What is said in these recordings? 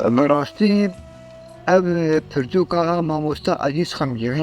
Bi rastî ev pirtûka mamoste Elîs Xemgînî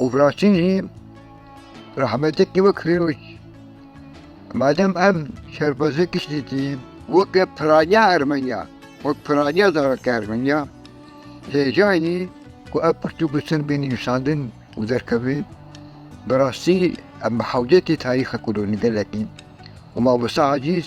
Û viraştin jî rehmetekî wek Fîrûz. Madem ev şerbaze kiştî tî weke piraniya Ermeniya, wek piraniya zarokê Ermeniya, hêjayî ku ev pirt û bisin bên nivîsandin û derkeve, bi rastî em bi hewcetê tarîxa kulûrnî gelekî û mamosta Ezîz,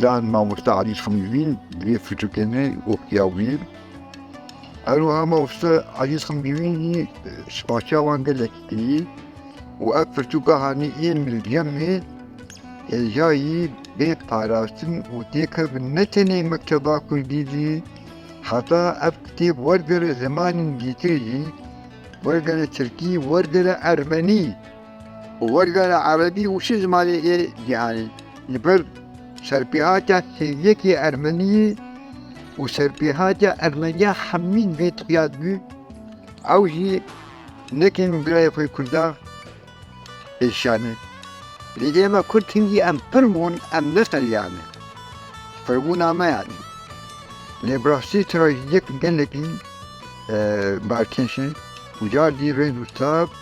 Can mamoste Alî Xemgîvîn di vê firtûkê de gotiya wî ye. Herwiha mamoste Alî Xemgîvîn jî spaseya wan gelekî kiriye û ev firtûka hanî ên li Gemê hêjayî bê parastin û têkevin ne tenê mekteba kurdî jî heta ev kitêb wergere zimanên dîtir jî, wergere tirkî, wergere ermenî. Wergera erebî û şî zimanê yê cîhanê ji ber serpêhatiya hêviyekê ermeniyê û serpêhatiya ermeniya hemî vê tîya dibî, ew jî nekêm birayê xwe kurda êşane. Lê ême kurd hingî em pir bûn em neferiyane. Firbûna me yanî. Lê bi rastî trajîdiyek gelekî barkêş e û cardî rêz û stab